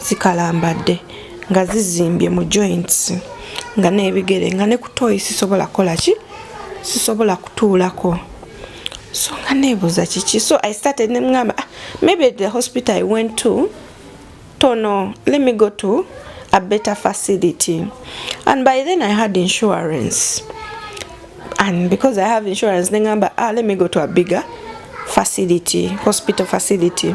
zikalambadde nga zizimbye mu joints nga n'ebigere nga ne kutoyi sisobola kukola ki sisobola kutuulako so nga neebuuza kiki so i started nemugamba ah, maybe the hospital i went to tono let me go to a better facility and by then i had insurance and because i have insurance nengamba ah, let me go to a bigger facility hospital facility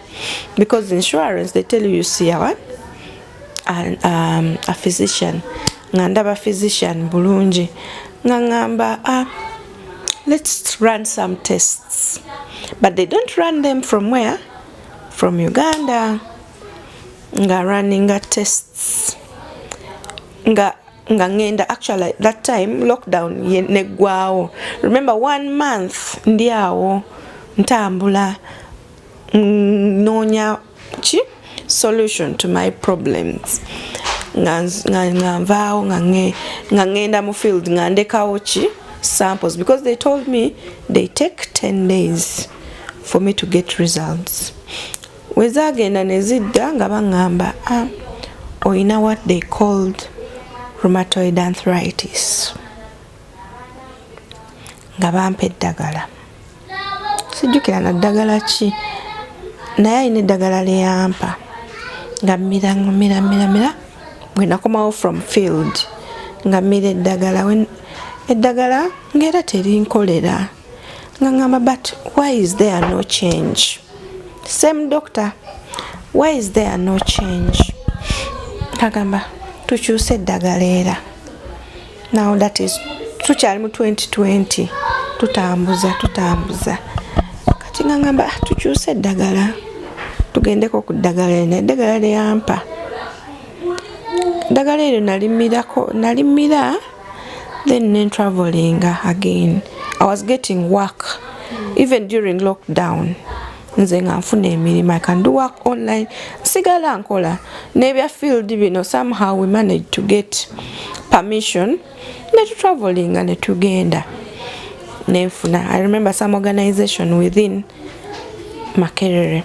because insurance they tell you you see a what and um, a physician nga ndaba physician bulungi nga ngamba ah, let's run some tests but they don't run them from where from uganda nga runninga tests nga nga ngenda actually that time lockdown neggwawo remember one month ndi awo ntambula mm, noonya ki solution to my problems nga nvaawo nga ngenda mu field nga ndekawo ki samples because they told me they take 10 days for me to get results wezagenda nezidda nga baŋŋamba ah, olina what they called rheumatoid arthritis nga bampa eddagala sijjukira na ddagala ki naye alina eddagala lyeyampa nga mmira mmira mmira mmira bwe nakomawo from field nga mmira eddagala eddagala ngaera terinkolera nga ngamba but why is there no change same doctor why is there no change agamba tukyuse eddagala era now that is tukyali mu 2020 tutambuza tutambuza kati nga ngamba ah, tukyuse eddagala tugendeko ku ddagala eno eddagala lyeyampa eddagala eryo nalimirako nalimira then nentravelinga again i was getting work even during lockdown nze nga nfuna emirimu i can do work online nsigala nkola nebya field bino somehow we manage to get permission netutravelinga netugenda nenfuna i remember some organization within makerere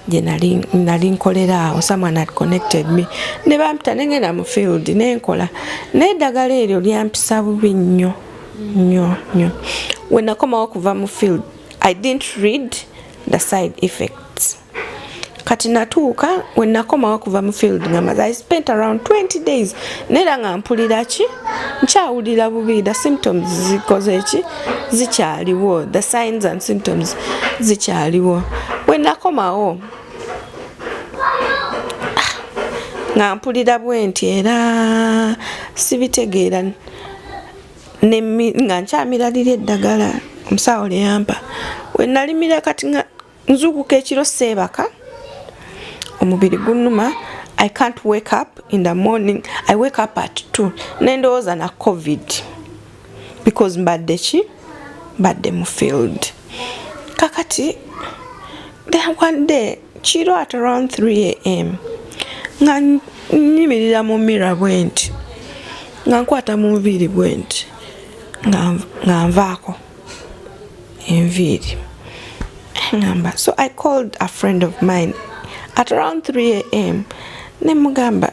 gye nali nkolera awo someone had connected me ne bampita nengenda mu field nenkola naye eddagala eryo lyampisa bubi nnyo nnyo nnyo wenakomawo okuva mu field I didn't read the side effects kati natuuka wenakomawo kuva mu field ngamaze i spent around 20 days nera nga mpulira ki nkyawulira bubi the symptoms zikoze ki zikyaliwo the signs and symptoms zikyaliwo wenakomawo nga mpulira bwenti era sibitegeera nga nkyamiralira eddagala omusawo lyeyampa wenalimira kati nga nzukuka ekiro seebaka omubiri gunuma i can't wake up in the morning i wake up at t nendowooza na covid because mbadde ki mbadde mu field kakati then one day kiro at around 3am nga nyimirira mu mira bwenti nga nkwata mu nviiri bwenti nga nvaako enviiri ngamba so i called a friend of mine at around 3am nemugamba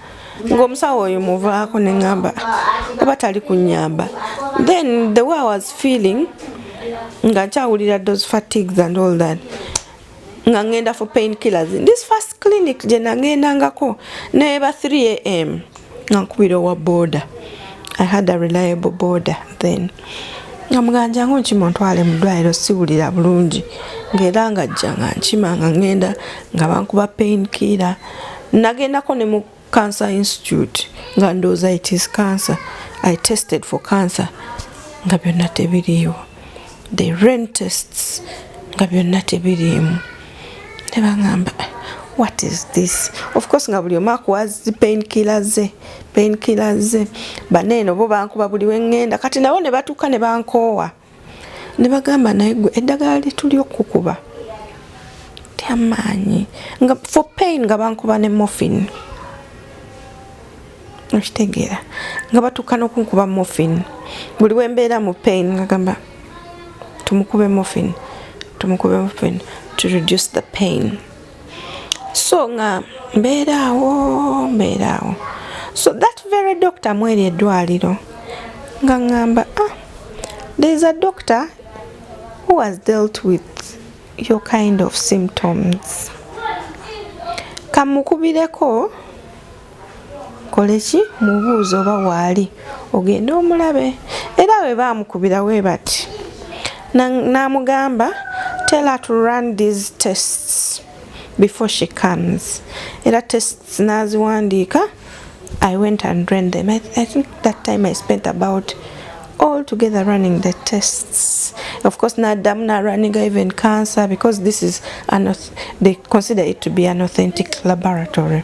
ng'omusawo oyo muvaako ne ŋamba oba tali kunyamba then the way i was feeling nga nkyawulira those fatigues and all that nga ngenda for pain killers this first clinic gye nagendangako neba 3 am nga nkubira owa border i had a reliable border then nga muganja ngu nkimuntwale mu ddwaliro siwulira bulungi ngaera nga jja nga nkima nga ngenda nga bankuba pain kira nagendako ne mu cancer institute nga ndowooza it is cancer i tested for cancer nga byonna tebiriiwo the ren tests nga byonna tebiriimu ne baŋamba what is this of course nga buli omu akuwa zi pain killer ze painkillers baneeno bo bankuba buli wengenda kati nabo ne batuuka ne bankoowa ne bagamba naye gwe eddagala lituli okukuba tyamaanyi nga for pain nga bankuba ne morphin okitegeera nga batuuka n'okunkuba morphin buli wembeera mu pain ngagamba tumukube morphin tumukube morphin to reduce the pain so nga mbeeraawo mbeeraawo so that very doctor mweri eddwaliro nga ŋŋamba ah there is a doctor who has dealt with your kind of symptoms kamukubireko kole ki mubuuza oba waali ogende omulabe era bwe baamukubira we bati n'amugamba tell her to run these tests before she comes era tests n'aziwandiika i went and ran them I, i think that time i spent about all together running the tests of course now damna running even cancer because this is an they consider it to be an authentic laboratory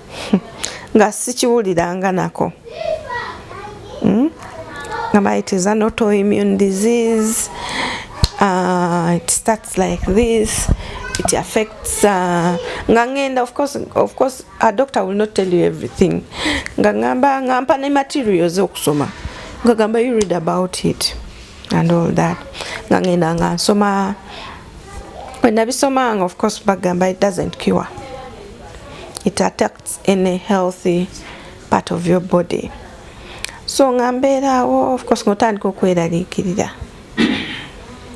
nga sikiwuliranga nako hmm? ngamba it is an autoimmune disease uh, it starts like this it affects uh, nga ngenda of course, of course a doctor will not tell you everything nga ngamba ngampa ne materials okusoma nga gamba you read about it and all that nga ngenda nga nsoma wenabisomanga of course bagamba it doesn't cure it attacks any healthy part of your body so nga mbeeraawo of course ngotandika okweraliikirira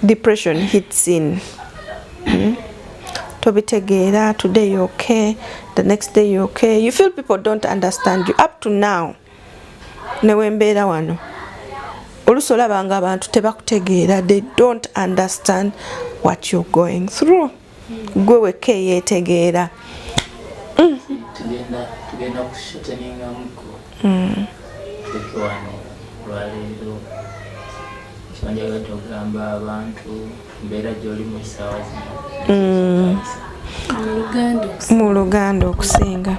depression hits in hmm? tobitegeera today you okay the next day you okay you feel people don't understand you up to now newembeera wano olusi olabanga abantu tebakutegeera they don't understand what you're going through gwe wekka eyeetegeera tugenda kusheteningamuko tukiwano olwaleero kibanja tugamba abantu mbeera gyoli mu ssaawa zino mm. mu luganda okusinga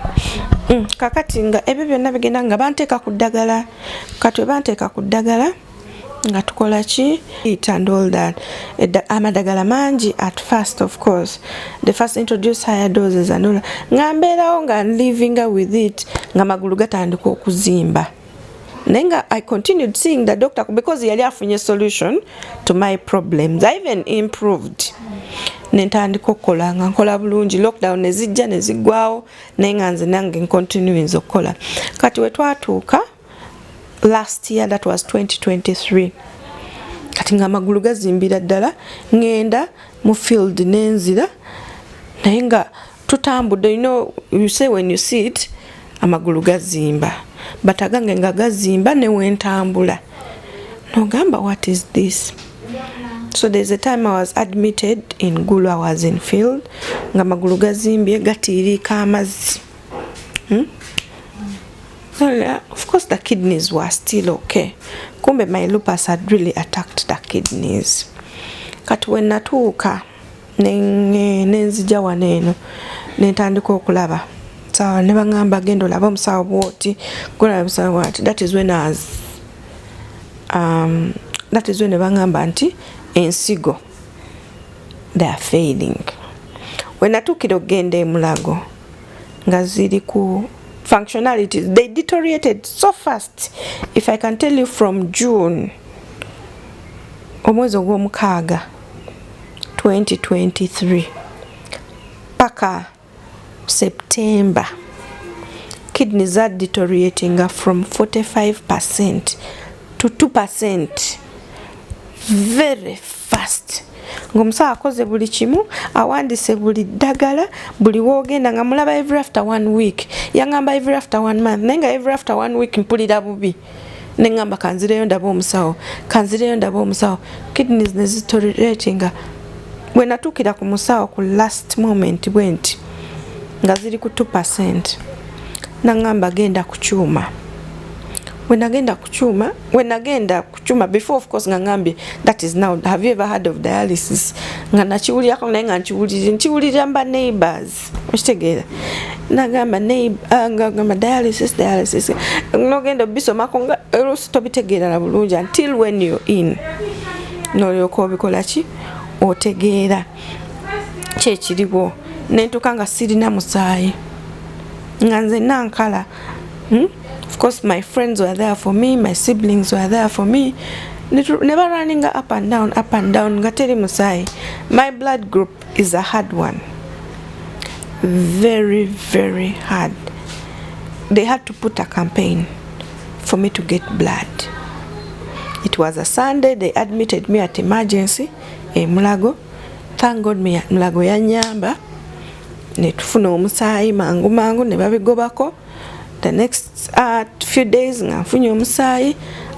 mm, kakati nga ebyo byonna bigenda nga banteeka ku ddagala katwe banteeka ku ddagala nga tukola ki it and all that amadagala mangi at first of course the first introduce higher doses and all nga mbeerawo nga livinga with it nga magulu gatandika okuzimba naye nga i continued seeing the doctor because yali afunye solution to my problems i even improved nentandika okukola nga nkola bulungi lockdown nezijja nezigwawo naye nga nze nange ncontinuinza okukola kati wetwatuuka last year that was 2023 kati nga amagulu gazimbira ddala ngenda mu field nenzira naye nga tutambudde you know you say when you see it amagulu gazimba but agange nga gazimba newentambula nogamba what is this so there's a time i was admitted in gulu i was in field nga amagulu gazimbye gatiiriika amazzi hmm? Well, of course the kidneys were still okay. Kumbe my lupus had really attacked the kidneys. Kati we natuuka nenzija wano eno nentandika okulaba sawa ne baŋamba genda olaba omusawo bwoti golaba omusawo bwati that is when as um, that is when ne baŋamba nti ensigo they are failing we natuukira okugenda emulago nga ziri ku functionalities they deteriorated so fast if i can tell you from june omwezi ogw'omukaaga 2023 paka september kidney za deterioratinga from 45 percent to 2 percent very fast ngaomusawo akoze buli kimu awandise buli ddagala buli wogenda nga mulaba every after one week yangamba every after one month naye nga every after one week mpulira bubi nengamba kanzireyo ndaba omusawo kanzireyo ndaba omusawo kidneys nezitoratinga bwenatuukira ku musawo ku last moment bwenti nga ziri ku 2 percent nangamba genda ku kyuma wenagenda ku kyuma wenagenda chuma before of course nga ngambye that is now have you ever heard of dialysis nga nakiwulirako naye nga nkiwulirira nkiwulirira mba neighbors okitegeera nagamba ah, ngagamba dialysis dialysis nogenda obisomako nga oluusi tobitegeerala bulungi until when you in nolyoka obikola ki otegeera kyekiriwo nentuka nga sirina musaayi nga nze nankala hmm? of course my friends were there for me my siblings were there for me never running up and down up and down nga teri musaayi my blood group is a hard one very very hard they had to put a campaign for me to get blood it was a sunday they admitted me at emergency e mulago thank god mulago yanyamba netufuna omusaayi mangu mangu ne babigobako the next uh, few days nga nfunye omusaayi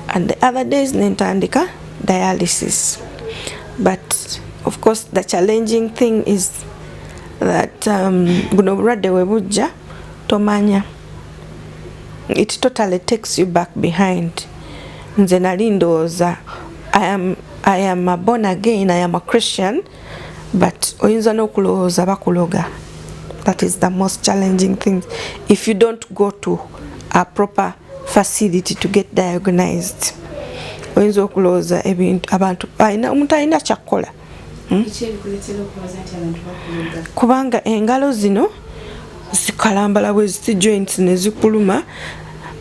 and the other days nentandika dialysis but of course the challenging thing is that um, buno obulwadde we bujja tomanya it totally takes you back behind nze nali ndowooza i am, I am a born again i am a christian but oyinza n'okulowooza bakuloga that is the most challenging thing if you don't go to a proper facility to get diagnosed oyinza okulowooza ebintu abantu omuntu alina kyakkola hmm? kubanga engalo zino zikalambala bweziti joints nezikuluma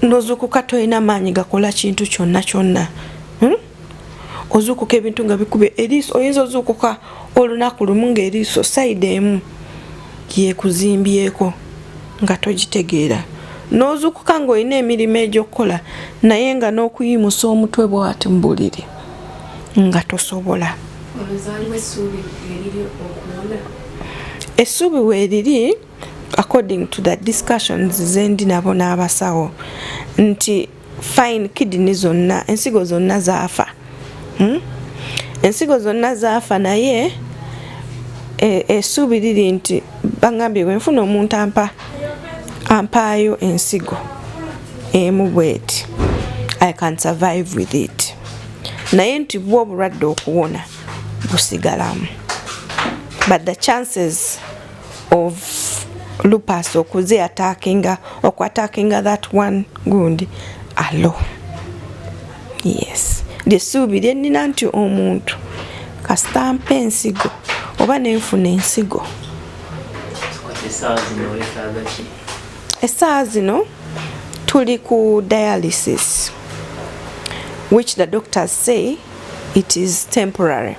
nozukuka tolina maanyi gakola kintu kyonna kyonna hmm? ozuukuka ebintu nga bikuba eriiso oyinza ozuukuka olunaku lumu ng'eriiso sayidi emu yekuzimbyeko nga togitegeera n'ozuukuka ng'olina emirimu egy'okukola naye nga n'okuyimusa omutwe bwati mu buliri nga tosobola essuubi weeriri according to the discussions zendi nabo n'abasawo nti fine kidini zonna ensigo zonna zaafa hmm? ensigo zonna zaafa naye e, esuubi liri nti bagambye bwenfuna omuntu ampa ampaayo ensigo emu bweti i can survive with it naye nti bwo obulwadde okuwona busigalamu but the chances of lupus okuze atakinga okwatakinga that one gundi alo yes lyesuubi lyenina nti omuntu kasita mpa ensigo oba nenfuna ensigo esaawa zino tuli ku dialysis which the doctors say it is temporary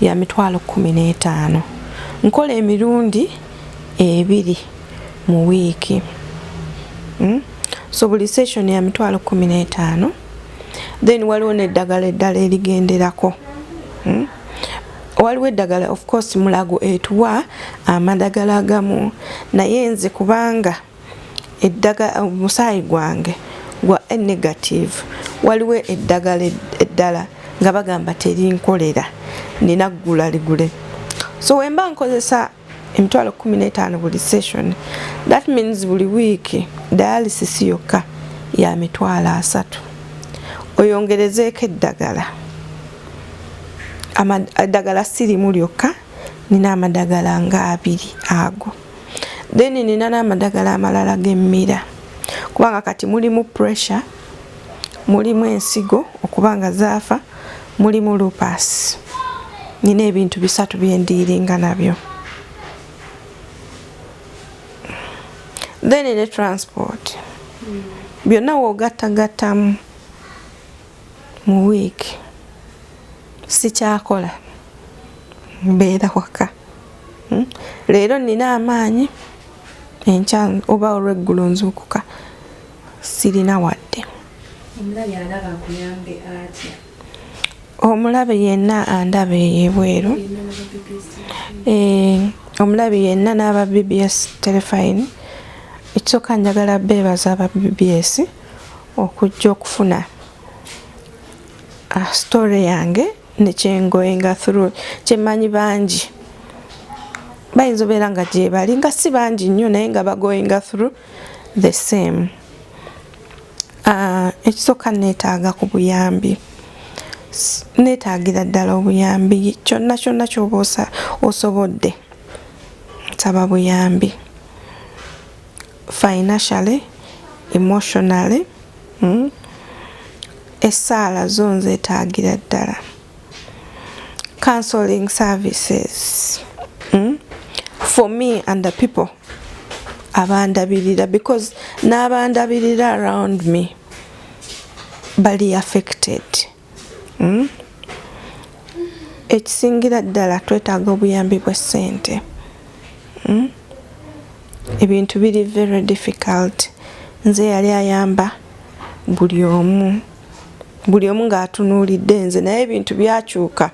ya mitwalo kumi n'etaano nkola emirundi ebiri mu wiiki hmm? so buli session ya mitwalo kumi n'etaano then waliwo n'eddagala eddala erigenderako hmm? waliwo eddagala of course mulago etuwa amadagala agamu naye nze kubanga eddaga omusaayi gwange gwa a negative waliwo eddagala eddala nga bagamba terinkolera nina ggula ligule so wemba nkozesa emitwalo kumi n'etaano buli session that means buli wiiki dialysis yokka ya mitwalo asatu oyongerezeeko eddagala eddagala sirimu lyokka nina amadagala nga abiri ago then nina n'amadagala amalala gemmira kubanga kati mulimu pressure mulimu ensigo okuba nga zaafa mulimu lupas nina ebintu bisatu byendiiringa nabyo then ne transport byonna woogattagattamu mu week sikyakola mbeera waka hmm? leero nina amaanyi enkya oba olweggulo nzuukuka sirina wadde omulabe yenna andaba eyebweru eh, omulabe yenna n'aba bbs telefine ekisooka njagala beebaza aba bbs okujja okufuna ah, story yange nekyengoinga through kyemanyi bangi bayinza obeera nga gyebali nga si bangi nnyo naye nga bagoinga through the same ah, ekisooka neetaaga ku buyambi neetaagira ddala obuyambi kyonna kyonna kyoba osobodde nsaba buyambi financially emotionally hmm? essaala zo nzeetaagira ddala counseling services hmm? for me and the people abandabirira because n'abandabirira around me bali affected hmm? ekisingira ddala twetaaga obuyambi bw'essente hmm? ebintu biri very difficult nze yali ayamba buli omu buli omu ng'atunuulidde nze naye ebintu byakyuka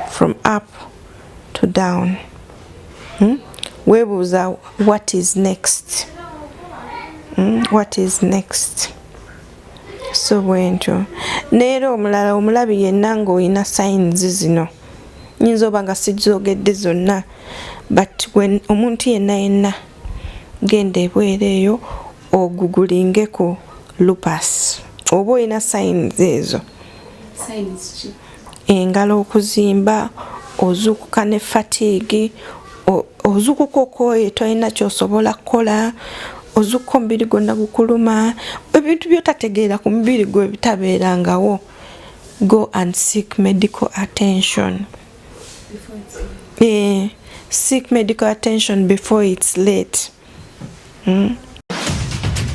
from up to down hmm? weebuuza what is next hmm? what is next so bwentyo neera omulala omulabi yenna ng'olina signs zino nyinza oba nga sizogedde zonna but omuntu yenna yenna genda ebweera eyo ogugulingeko lupas oba olina signs ezo engalo okuzimba ozukuka ne fatigue ozukuka okoye tolina kyosobola kukola ozukuka omubiri gwonna gukuluma ebintu byotategeera ku mubiri gwe bitabeerangawo go and seek medical attention eh, seek medical attention before its late mm?